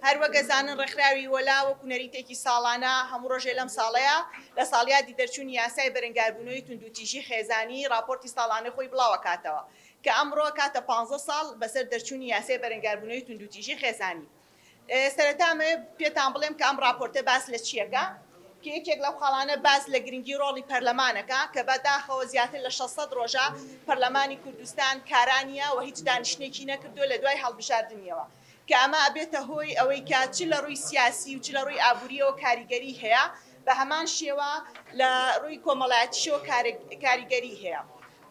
هەر وەک ئەزانن ڕێکخراوی وەلا وەکو نەریتێکی ساڵانە هەموو ڕۆژێ لەم ساڵەیا لە ساڵیادی دەرچوونی یاسای بەرەنگاربوونەوەی توندوتیژی خێزانی ڕاپۆرتی ساڵانەی خۆی بڵاوەکاتەوە کە ئەمڕۆ کاتە پانزە ساڵ بەسەر دەرچوونی یاسای بەرەنگاربوونەوەی توندوتیژی خێزانی سەرەتا مەوێ پێتان بڵێم کە ئەم ڕاپۆرتە باس لە چیەکە کە یەکێک لەو خاڵانە باس لە گرنگی ڕۆڵی پەرلەمانەکە کە بە داخەوە زیاتر لە 600 ڕۆژە پەرلەمانی کوردستان کارانیە و هیچ دانیشتنێکی نەکردووە لە دوای هەڵبژاردنیەوە کە ئەمە ئەبێتە هۆی ئەوەی کە چ لە ڕووی سیاسی و چ لە ڕووی ئابووریەوە کاریگەری هەیە بە هەمان شێوە لە ڕووی کۆمەڵایەتیشەوە کاریگەری هەیە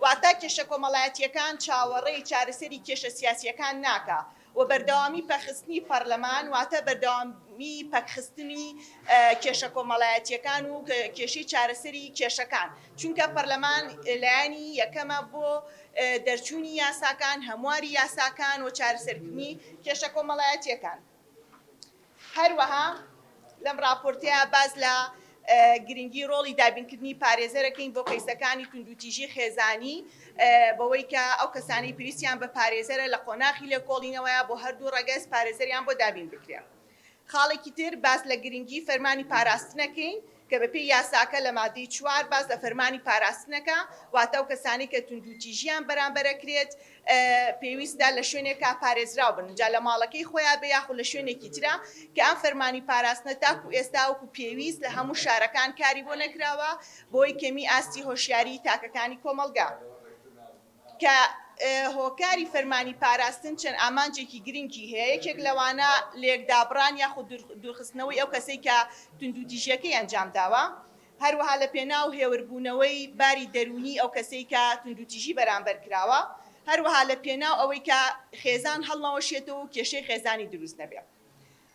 واتە کێشە کۆمەڵایەتیەکان چاوەڕێی چارەسەری کێشە سیاسیەکان ناکە و بەردەوامی پەکخستنی پەرلەمان واتە بەردەوامی پەکخستنی کێشە کۆمەڵایەتییەکان و کێشەی چارەسەری کێشەکان چونکە پەرلەمان لایەنی یەکەمە بۆ دەرچوونی یاساکان هەمواری یاساکان و چارەسەرکردنی کێشە کۆمەڵایەتییەکان هەروەها لەم ڕاپۆرتەیا باس لە گرنگی ڕۆڵی دابینکردنی پارێزەرەکەین بۆ کەیسەکانی توندوتیژی خێزانی بەوەی کە ئەو کەسانەی پێویستیان بە پارێزەرە لە قۆناخی لێکۆڵینەوەیە بۆ هەردوو ڕەگەز پارێزەریان بۆ دابین بکرێ. خاڵێکی تر باس لە گرنگی فەرمانی پاراستنەکەین کە بەپێی یاساکە لە مادەی چوار باس لە فەرمانی پاراستنەکە واتە ئەو کەسانەی کە توندوتیژیان بەرامبەر ئەکرێت پێویستە لە شوێنێکا پارێزراو بن جا لە ماڵەکەی خۆیان بێ یاخود لە شوێنێکی ترا کە ئەم فەرمانی پاراستنە تاکو ئێستا وەکو پێویست لە هەموو شارەکان کاری بۆ نەکراوە بەوەی کەمی ئاستی هۆشیاریی تاکەکانی کۆمەڵگا. کە هۆکاری فەرمانی پاراستن چەند ئامانجێکی گرنگی هەیە، یەکێک لەوانە لێکدابڕان یاخود دوورخستنەوەی ئەو کەسەی کە توندوتیژییەکەی ئەنجام داوە، هەروەها لەپێناو هێوربوونەوەی باری دەروونی ئەو کەسەی کە توندوتیژی بەرامبەر کراوە، هەروەها لەپێناو ئەوەی کە خێزان هەڵنەوەشێتەوە و کێشەی خێزانی دروست نەبێت.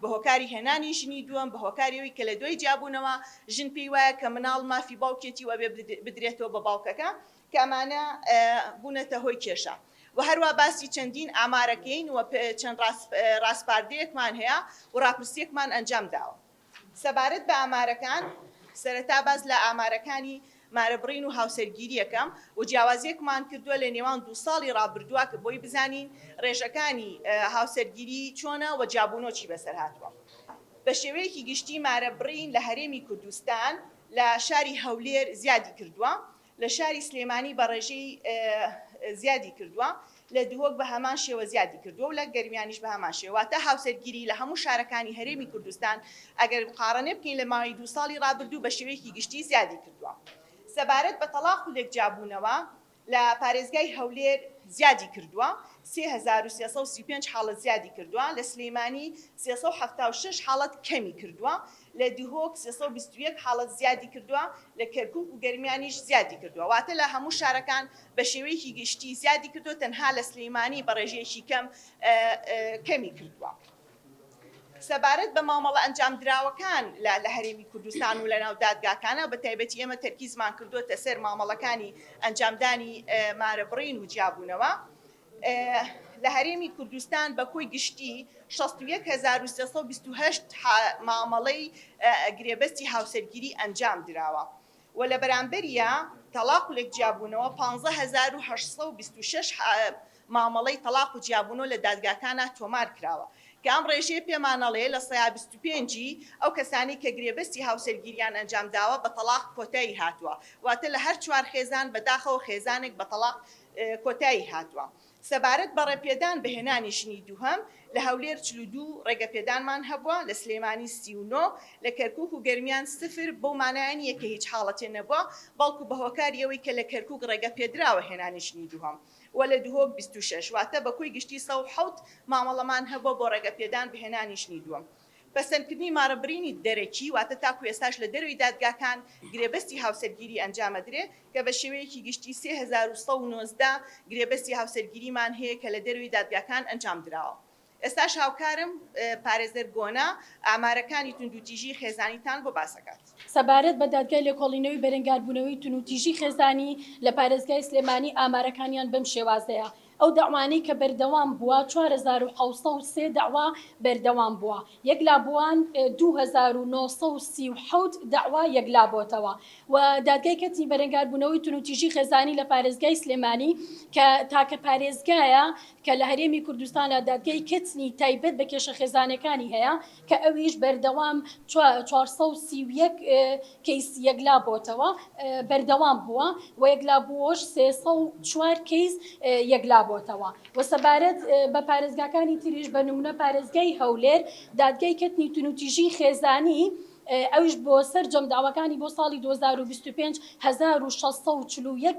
بە هۆکاری هێنانی ژنی دووەم، بە هۆکاری ئەوەی کە لە دوای جیابوونەوە ژن پێی وایە کە مناڵ مافی باوکێتی و ئەبێ بدرێتەوە بە باوکەکە کە ئەمانە بوونەتە هۆی کێشە و هەروا باسی چەندین ئامارەکەین و چەند ڕاسپاردەیەکمان هەیە و ڕاپرسیەکمان ئەنجام داوە سەبارەت بە ئامارەکان سەرەتا باس لە ئامارەکانی مارەبڕین و هاوسەرگیرییەکە و جیاوازییەکمان کردووە لە نێوان دوو ساڵی ڕابردووە کە بۆی بزانین ڕێژەکانی هاوسەرگیری چۆنە و جابونۆکی بەسەر هاتووە. بە شێوەیەکی گشتی مارەبڕین لە هەرێمی کوردستان لە شاری هەولێر زیادی کردووە، لە شاری سلێمانی بە ڕێژەی زیادی کردووە، لە دهۆک بە هەمان شێوە زیادی کردووە و لە گەرمیانیش بە هەمان شێوە، واتە هاوسەرگیری لە هەموو شارەکانی هەرێمی کوردستان ئەگەر مقاڕنە بکەین لە ماوەی دوو ساڵی ڕابردوو بە شێوەیەکی گشتی زیادی کردووە. سەبارەت بە تەڵاق و لێکجیابوونەوە لە پارێزگای هەولێر زیادی کردووە، سێ هەزار و سێ سەد و سی و پێنج حاڵەت زیادی کردووە، لە سلێمانی سێ سەد و حەفتا و شەش حاڵەت کەمی کردووە، لە دهۆک سێ سەد و بیست و یەک حاڵەت زیادی کردووە، لە کەرکووک و گەرمیانیش زیادی کردووە، واتە لە هەموو شارەکان بە شێوەیەکی گشتی زیادی کردووە تەنها لە سلیمانی بە ڕێژەیەکی کەم کەمی کردووە. سەبارەت بە مامەڵە ئەنجامدراوەکان لە لە هەرێمی کوردستان و لەناو دادگاکانە بە تایبەتی ئێمە تەرکیزمان کردووەتە سەر مامەڵەکانی ئەنجامدانی مارە بڕین و جیابوونەوە لە هەرێمی کوردستان بە کۆی گشتی 161328 مامەڵەی گرێبەستی هاوسەرگیری ئەنجام دراوە. و لە بەرامبەریا تەڵاق و لێکجیابوونەوە پانزە هەزار و هەشت سەد و بیست و شەش مامەڵەی تەڵاق و جیابوونەوە لە دادگاکانا تۆمار کراوە کە ئەم ڕێژەیە پێمان ئەڵێ لە سەیا بیست و پێنج ی ئەو کەسانەی کە گرێبەستی هاوسەرگیریان ئەنجام داوە بە تەڵاق کۆتایی هاتووە واتە لە هەر چوار خێزان بەداخەوە خێزانێک بە تەڵاق کۆتایی هاتووە. سەبارەت بە ڕێپێدان بە هێنانی ژنی دووهەم، لە هەولێر چل و دوو ڕێگەپێدانمان هەبووە، لە سلێمانی سی و نۆ، لە کەرکووک و گەرمیان سفر، بەو مانایە نییە کە هیچ حاڵەتێ نەبووە، بەڵکو بە هۆکاری ئەوەی کە لە کەرکووک ڕێگە پێدراوە هێنانی ژنی دووهەم و لە دهۆک بیست و شەش، واتە بە کۆی گشتی سەد و حەوت مامەڵەمان هەبووە بۆ ڕێگەپێدان بە هێنانی ژنی دووەم. پەسەندکردنی مارە برینی دەرەکی، واتە تاکو ئێستاش لە دەرەوەی دادگاکان گرێبەستی هاوسەرگیری ئەنجامەدرێ کە بە شێوەیەکی گشتی سێ هەزار و سەد و نۆزدە گرێبەستی هاوسەرگیریمان هەیە کە لە دەرەوەی دادگاکان ئەنجام دراوە. ئێستاش هاوکارم پارێزەر گۆنا ئامارەکانی توندوتیژی خێزانیتان بۆ باس ئەکات. سەبارەت بە دادگای لێکۆڵینەوەی بەرەنگاربوونەوەی تونوتیژی خێزانی لە پارێزگای سلێمانی ئامارەکانیان بەم شێوازەیە، ئەو دەعوانەی کە بەردەوام بووە چوار هەزار و حەوت سەد و سێ دەعوا بەردەوام بووە یەکلا بووان دوو هەزار و نۆ سەد و سی و حەوت دەعوا یەکلا بۆتەوە و دادگای کەرتی بەرەنگاربوونەوەی توندوتیژی خێزانی لە پارێزگای سلێمانی کە تاکە پارێزگایە کە لە هەرێمی کوردستانا دادگای کەتنی تایبەت بە کێشە خێزانەکانی هەیە کە ئەویش بەردەوام چوار سەد و سی و یەک کەیسی یەکلا بۆتەوە بەردەوام بووە و یەکلا بووەش سێ سەد و چوار کەیس یەکلا بۆتەوە و سەبارەت بە پارێزگاکانی تریش بە نمونە پارێزگای هەولێر دادگای کەتنی تونوتیژی خێزانی ئەویش بۆ سەرجەم داواکانی بۆ ساڵی دوو هەزار و بیست و پێنج هەزار و شەش سەد و چل و یەک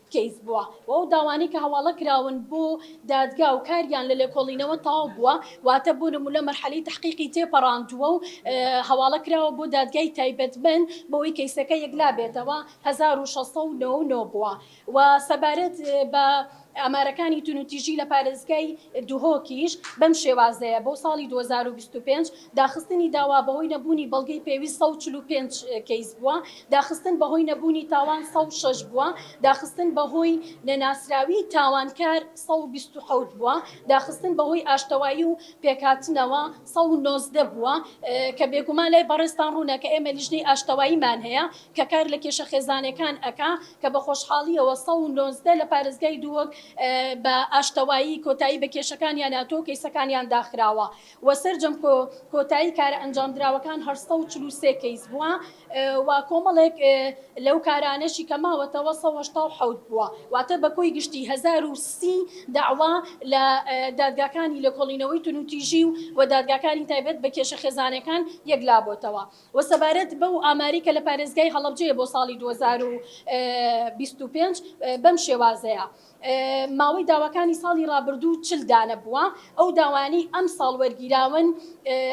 کەیس بووە و ئەو داوانەی کە هەواڵە کراون بۆ دادگا و کاریان لە لێکۆڵینەوە تەواو بووە واتە بۆ نموونە مەرحەلەی تەحقیقی تێپەڕاندووە و هەواڵە کراوە بۆ دادگای تایبەتمەند بەوەی کەیسەکە یەکلا بێتەوە هەزار و شەش سەد و نۆ و نۆ بووە و سەبارەت بە ئامارەکانی تونوتیژی لە پارێزگای دهۆکیش بەم شێوازەیە بۆ ساڵی دوو هەزار و بیست و پێنج داخستنی داوا بەهۆی نەبوونی بەڵگەی پێویست سەد و چل و پێنج کەیس بووە، داخستن بەهۆی نەبوونی تاوان سەد و شەش بووە، داخستن بەهۆی نەناسراویی تاوانکار سەد و بیست و حەوت بووە، داخستن بەهۆی ئاشتەوایی و پێکهاتنەوە سەد و نۆزدە بووە، کە بێگومان لای بەڕێزتان ڕوونە کە ئێمە لیژنەی ئاشتەواییمان هەیە کە کار لە کێشە خێزانەکان ئەکا کە بە خۆشحاڵییەوە سەد و نۆزدە لە پارێزگای دووەک بە ئاشتەوایی کۆتایی بە کێشەکانیان هاتووە و کەیسەکانیان داخراوە. و سەرجەم کۆتایی کارە ئەنجامدراوەکان هەر سەد و چل و سێ کەیس بووە و کۆمەڵێک لەو کارانەشی کە ماوەتەوە سەد و هەشتا و حەوت بووە، واتە بە کۆی گشتی هەزار و سی دەعوا لە دادگاکانی لێکۆڵینەوەی توندوتیژی و دادگاکانی تایبەت بە کێشە خێزانەکان یەکلابۆتەوە و سەبارەت بەو ئاماری کە لە پارێزگای هەڵەبجەیە بۆ ساڵی دوو هەزار و بیست و پێنج بەم شێوازەیە. ماوەی داواکانی ساڵی رابردوو چل دانە بووە، ئەو داوایانەی ئەمساڵ وەرگیراون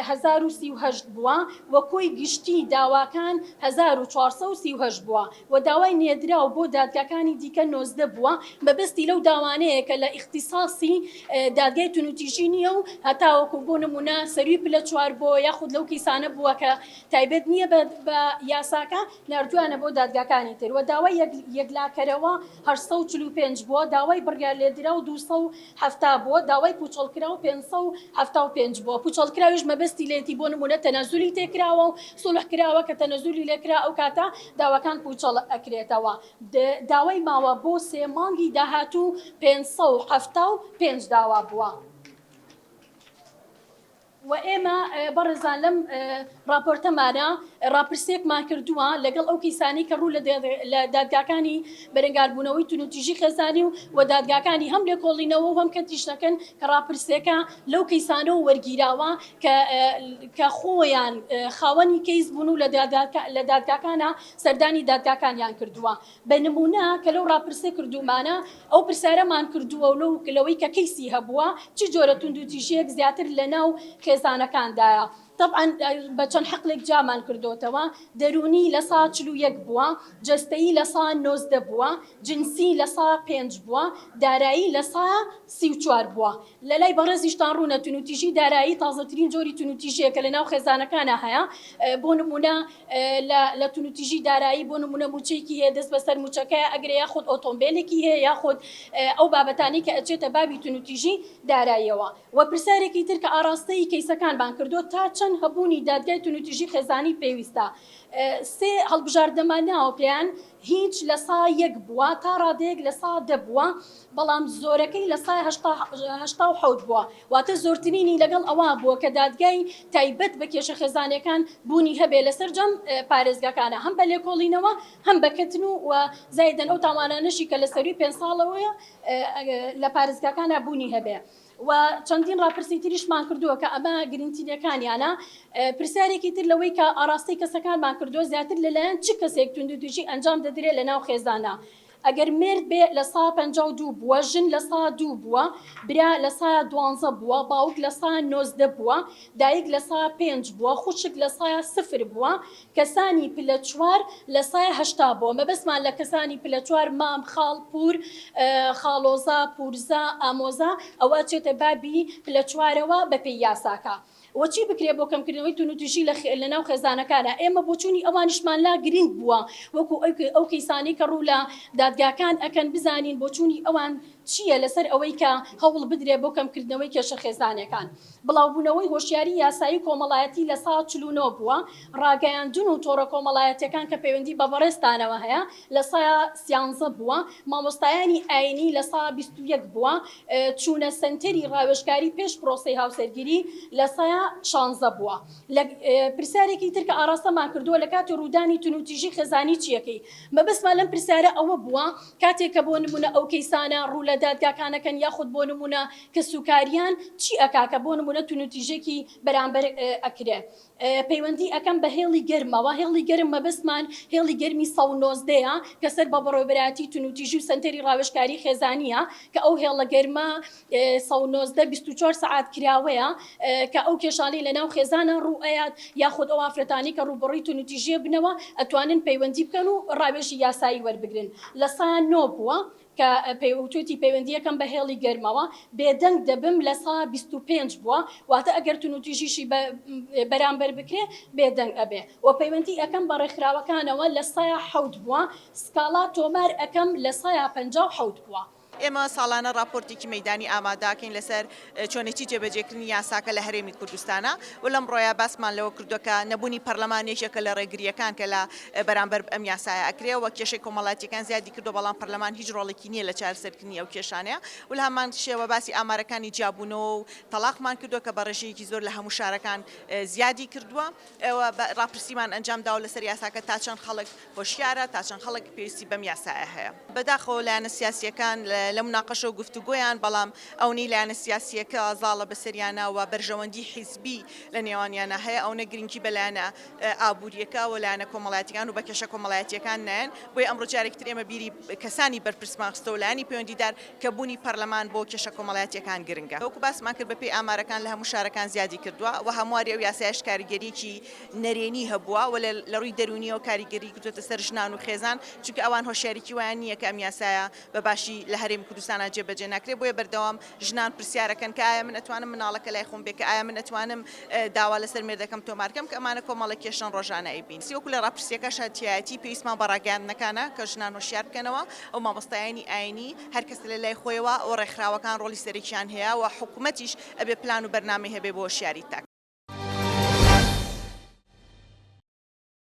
هەزار و سی و هەشت بووە و کۆی گشتی داواکان هەزار و چوار سەد و سی و هەشت بووە و داوای نێردراو بۆ دادگاکانی دیکە نۆزدە بووە، مەبەستی لەو داوانەیە کە لە ئیختیساسی دادگای توندوتیژی نییە و هەتاوەکو بۆ نموونە سەرووی پلە چوار بۆ یاخود لەو کەیسانە بووە کە تایبەت نییە بە یاساکە، ناردوویانە بۆ دادگاکانی تر و داوای یەکلاکەرەوە. هەشت سەد و چل و پێنج بووە، داوای بڕیارلێدراو دوو سەد و حەفتا بووە، داوای پووچەڵکراو پێنج سەد و حەفتا و پێنج بووە، پووچەڵکراویش مەبەستی لێیەتی بۆ نموونە تەنەزولی تێکراوە و سوڵح کراوە، کە تەنەزولی لێکرا ئەو کاتە داواکان پووچەڵ ئەکرێتەوە. داوای ماوە بۆ سێ مانگی داهاتوو پێنج سەد و حەفتا و پێنج داوا بووە. وە ئێمە بەڕێزان لەم ڕاپۆرتەمانا ڕاپرسێکمان کردووە لەگەڵ ئەو کەیسانەی کە ڕوو لە دادگاکانی بەرەنگاربوونەوەی تونوتیژی خێزانی و وە دادگاکانی هەم لێکۆڵینەوە و هەم کەرتی شتەکەن کە ڕاپرسێکە لەو کەیسانەوە وەرگیراوە کە کە خۆیان خاوەنی کەیس بوون و لە دادگاکانە سەردانی دادگاکانیان کردووە. بە نموونە کە لەو ڕاپرسە کردوومانە، ئەو پرسیارەمان کردووە و لەوەی کە کەیسی هەبووە، چ جۆرە توندوتیژییەک زیاتر لە ناو خێزانەکاندایە؟ تەبعەن بە چەند حەقلێک جیامان کردۆتەوە، دەروونی لە سا چل و یەک بووە، جەستەیی لە سا نۆزدە بووە، جنسی لە سا پێنج بووە، دارایی لە سا سی و چوار بووە. لە لای بەڕێزیشتان ڕوونە تونوتیژی دارایی تازەترین جۆری تونوتیژیە کە لە ناو خێزانەکانا هەیە بۆ نمونە لە تونوتیژی دارایی بۆ نمونە موچەیەکی هەیە دەست بەسەر موچەکەیا ئەگرێ یاخود ئۆتۆمبێلێکی هەیە یاخود ئەو بابەتانەی کە ئەچێتە بابی تونوتیژی داراییەوە وە پرسیارێکی تر کە ئاڕاستەی کەیسەکانمان کردوە تا چەند هەبوونی دادگای تونوتیژی خێزانی پێویستە سێ هەڵبژاردنەمان ناوە پێیان هیچ لە سا یەک بووە تا ڕادەیەک لە سا دە بووە بەڵام زۆرەکەی لە سا هەشتا هەشتا و حەوت بووە واتە زۆرترینی لەگەڵ ئەوە بووە کە دادگای تایبەت بە کێشە خێزانێکان بوونی هەبێ لە سەرجەم پارێزگاکانا هەم بە لێکۆڵینەوە هەم بە کەتن و وە زایدەن ئەو تاوانانەشی کە لە سەرووی پێنج ساڵەوەیە لە پارێزگاکانا بوونی هەبێ و چەندین ڕاپرسی تریشمان کردووە کە ئەمە گرنگترینەکانیانە. پرسیارێکی تر لەوەی کە ئاڕاستەی کەسەکانمان کردووە زیاتر لەلایەن چ کەسێک توندوتیژی ئەنجام دەدرێت لە ناو خێزانە؟ ئەگەر مێرد بێ لە سا پەنجا و دوو بووە، ژن لە سا دوو بووە، برا لە سا دوانزە بووە، باوک لە سا نۆزدە بووە، دایک لە سا پێنج بووە، خوشک لە سا سفر بووە، کەسانی پلە چوار لە سایە هەشتا بۆ مەبەستمان لە کەسانی پلە چوار مام خاڵ پوور خاڵۆزا پوورزا ئامۆزا ئەوە ئەچێتە بابی پلە چوارەوە بە پێی یاساکە وە چی بکرێ بۆ کەمکردنەوەی توندوتیژی لە لە ناو خێزانەکانا ئێمە بۆچوونی ئەوانیشمان لا گرینگ بووە وەکو ئەو ئەو کەیسانەی کە ڕوو لە دادگاکان ئەکەن بزانین بۆچوونی ئەوان چییە لەسەر ئەوەی کە هەوڵ بدرێ بۆ کەمکردنەوەی کێشە خێزانەکان. بڵاوبوونەوەی هۆشیاری یاسایی و کۆمەڵایەتی لە ساڵ چل و نۆ بووە، ڕاگەیاندن و تۆڕە کۆمەڵایەتییەکان کە پەیوەندی بە بەڕێزتانەوە هەیە لە سا سیانزە بووە، مامۆستایانی ئایینی لە سا بیست و یەک بووە، چوونە سەنتەری ڕاوێژکاری پێش پرۆسەی هاوسەرگیری لە سا شانزە بووە. لە پرسیارێکی تر کە ئاڕاستەمان کردووە لە کاتی ڕوودانی توندوتیژی خێزانی چییەکەی؟ مەبەستمان لەم پرسیارە ئەوە بووە کاتێک کە بۆ نموونە ئەو کەیسانە ڕوو لە دادگاکان ئەکەن یاخود بۆ نموونە کەسوکاریان چی ئەکا کە بۆ نمونە تونوتیژێکی بەرامبەر ئەکرێ پەیوەندی ئەکەم بە هێڵی گەرمەوە هێڵی گەرم مەبەستمان هێڵی گەرمی سەد و نۆزدە یە کە سەر بە بەڕێوەبەرایەتی تونوتیژی و سەنتەری ڕاوێژکاری خێزانیە کە ئەو هێڵە گەرمە سەد و نۆزدە بیست و چوار سەعات کراوەیە کە ئەو کێشانەی لە ناو خێزانا ڕوو ئەیات یاخود ئەو ئافرەتانەی کە ڕووبەڕووی تونوتیژیە بنەوە ئەتوانن پەیوەندی بکەن و ڕاوێژی یاسایی وەربگرن لە سایان نۆ بووە کە پێیوتووتی پەیوەندییەکەم بە هێڵی گەرمەوە بێدەنگ دەبم لە سا بیست و پێنج بووە، واتە ئەگەر تونوتیژیشی بە بەرامبەر بکرێ بێدەنگ ئەبێ و پەیوەندی ئەکەم بە ڕێکخراوەکانەوە لە سا حەوت بووە، سکاڵا تۆمار ئەکەم لە سا پەنجا و حەوت بووە. ئێمە ساڵانە ڕاپۆرتێکی مەیدانی ئامادەکەین لەسەر چۆنێتی جێبەجێکردنی یاساکە لە هەرێمی کوردستانە و لەمڕۆیە باسمان لەوە کردووە کە نەبوونی پەرلەمان یەکێکە لە ڕێگرییەکان کە لە بەرامبەر ئەم یاسایە ئەکرێ و کێشەی کۆمەڵاتیەکان زیادی کردووە بەڵام پەرلەمان هیچ ڕۆڵێکی نییە لە چارەسەرکردنی ئەو کێشانەیە و لە هەمان شێوە باسی ئامارەکانی جیابوونەوە و تەڵاقمان کردووە کە بە ڕێژەیەکی زۆر لە هەموو شارەکان زیادی کردووە. ئێوە ڕاپرسیمان ئەنجام داوە لەسەر یاساکە تا چەند خەڵک هۆشیارە، تا چەند خەڵک پێویستی بەم یاسایە هەیە. بەداخەوە لایەنە سیاسییەکان لە موناقەشە و گفتوگۆیان، بەڵام ئەونەی لایەنە سیاسییەکە زاڵە بەسەریانا و بەرژەوەندی حیزبی لە نێوانیانا هەیە، ئەونە گرنگی بە لایەنە ئابوورییەکە و لایەنە کۆمەڵایەتییەکان و بە کێشە کۆمەڵایەتییەکان نایەن. بۆیە ئەمڕۆ جارێکی تر ئێمە بیری کەسانی بەرپرسمان خستەوە، لایەنی پەیوەندیدار، کە بوونی پەرلەمان بۆ کێشە کۆمەڵایەتییەکان گرنگە. وەکو باسمان کرد بەپێی ئامارەکان لە هەموو شارەکان زیادی کردووە و هەمواری ئەو یاسایەش کاریگەرییەکی نەرێنی هەبووە و لە رووی دەروونییەوە کاریگەری کردووەتە سەر ژنان و خێزان، چونکە ئەوان هۆشیاریی وایان نییە کە ئەم یاسایە بە باشی لە هەرێمی کوردستانا جێبەجێ ناکرێت، بۆیە بەردەوام ژنان پرسیارەکەن کە ئایا من ئەتوانم مناڵەکە لای خۆم بێ، کە ئایا من ئەتوانم. داوا لە سەر مێردەکەم تۆمار کەم کە ئەمانە کۆمەڵە کێشەن ڕۆژانە ئەیبین. سیوەکو لە ڕاپرسییەکە شاندتیایەتی، پێویستمان بە ڕاگەیاندنەکانە کە ژنان هۆشیار بکەنەوە و مامۆستایانی ئایینی هەر کەس لە لای خۆیەوە و ڕێکخراوەکان ڕۆڵی سەرەکییان هەیە و حکومەتیش ئەبێ پلان و بەرنامەی هەبێ بۆ هۆشیاری تاک.